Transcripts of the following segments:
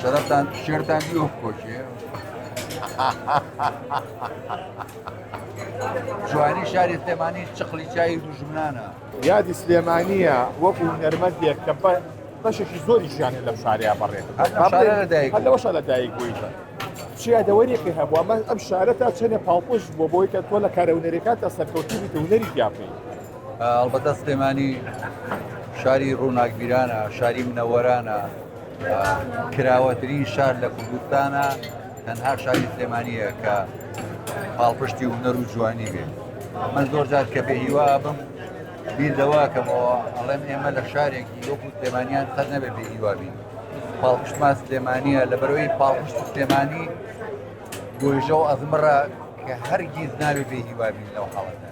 شەرەفتان شێرتان دیۆ بکۆشێ جوانی شاری سلێمانی چقلی چای دوژمنانە یادی سلێمانیە وەکو نەرمەزیێک کە بەشێکی زۆری ژیانە لەم شارەیە بەڕێت لەوەشە لە دایک بوویتە چیادەوەریەکە هەبووە من ئەم شارە تا چەنێ پاڵپشت بۆ بۆی کە تۆ لە کارەونەرێکات تا سەرکەوتی بیت و نەری پیاپی ئەڵبەتە سلێمانی شاری ڕووناکبیرانە شاری منەوەرانە کراوەترین شار لە کوردستانە تەنها شاری سلێمانیە کە پاڵپشتی هونەر و جوانی بێت من زۆر جار کە بێ هیوا بم بیر لەوە کەمەوە ئەڵێم ئێمە لە شارێکی وەکو سلێمانیان سەر نەبێت بێ هیوابین پاڵپشتمان سلێمانیە لە بەرەوەی پاڵپشت سلێمانی گۆژە و ئەزمڕە کە هەرگیز ناوێ بێ هیوابین لەو حاڵەتە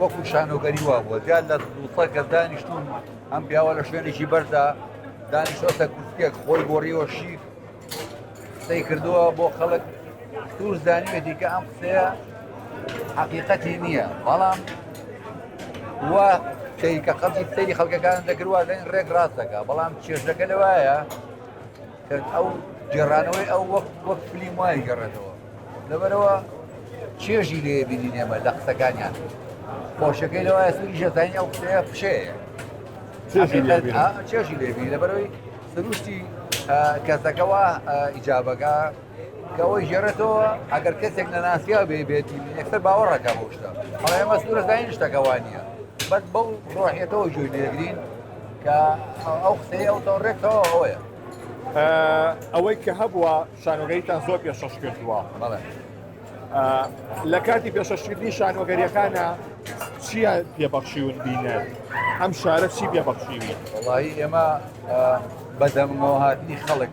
وەکو شانۆگەری وا بووە دیار لە دووسە گەل دانیشتون ئەم پیاوە لە شوێنێکی بەردا دانیشتۆتە کورسیەک خۆی گۆڕیەوە شیر قسەی کردووە بۆ خەڵک توش زانیوێتی کە ئەم قسەیە حقیقەتی نییە بەڵام وا کەی کە خەڵکی سەری خەڵکەکان دەکردوازین ڕێک ڕاستەکە بەڵام چێژەکە لەوایە ئەو گێڕانەوەی ئەو وەک وەک فلیم وای گەڕێتەوە لەبەرەوە چێژی لێ بینی نێمە لە قسەکانیان خۆشەکەی لەوە سوری ژەزانانی ئەو قسەیە پشەیە چێژی لێ بینی لەبەرەوەی سروشتی کەسەکەەوە ئیجابەکە کەەوەی ژێرەتەوە ئەگەر کەسێک نەناسیا بێ بێتی ئەکسەر باوەڕەکە بۆشتە ئەڵێ مەسوورەکانی شتەکەوانە بەس بەو ڕۆحێتەوە جوێ لێگرین کە ئەو قسەی ئەو تۆڕێکەوە ئەوەیە ئەوەی کە هەبووە شانۆگەیتان زۆر پێشەش کردووە بەڵێ لە کاتی پێشەشکردنی شانۆگەریەکانە چییە پێبەخشیون بینەر ئەم شارە چی پێبەخشیوی وڵی ئێمە بەدەمەوە هاتنی خەڵک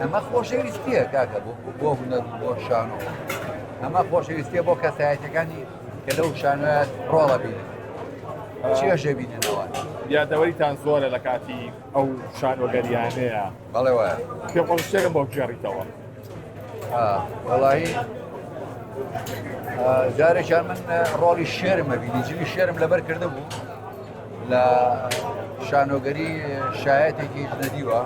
ئەمە خۆشەویستیە کاکە بۆ هونەر بۆ شانۆ ئەمە خۆشەویستیە بۆ کەسایەتەکانی کە لەو شانە ڕۆڵە بینن چێژە بیننەوە یادەوەریتان زۆرە لە کاتی ئەو شانۆگەریانەیە بەڵێ وایە پێ خۆشتێکە بۆ گێڕیتەوە وڵی جارێکیان من ڕۆڵی شێرمە بینی جلی شێرم لەبەر کردە بوو لە شانۆگەری شایەتێکی ژنەدیوە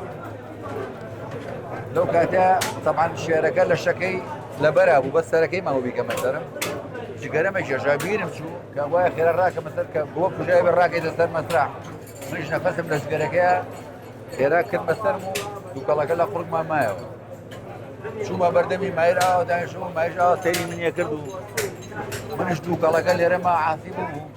لەو کاتە تەبان شێرەکە لە شەکەی لەبەرا بوو بە سەرەکەی ماوە بیکەمە سەرم جگەرەمە گێژا بیرم چوو کە وایە خێرا ڕاکە مەسەر کە بۆ کوژای بە ڕاکەی دەسەر مەسرا منش نەفەسم لە جگەرەکەی خێرا کرد بەسەر و دووکەڵەکە لە قڕمان مایەوە چوومە بەردەمی مایرا داش و مایژا سەری منیە کرد و منش دووکەڵەکە لێرەما عاسی بوو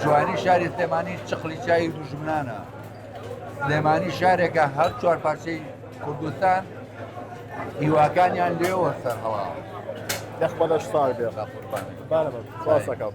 جوانی شاری سلێمانی چخلی چای دوژمنانە سلێمانی شارێکە هەر چوار پارچەی کوردستان هیواکانیان لێوە سەر هەڵا دەخبەش ساڵ بێ قوربان بارەمە ساسەکەم.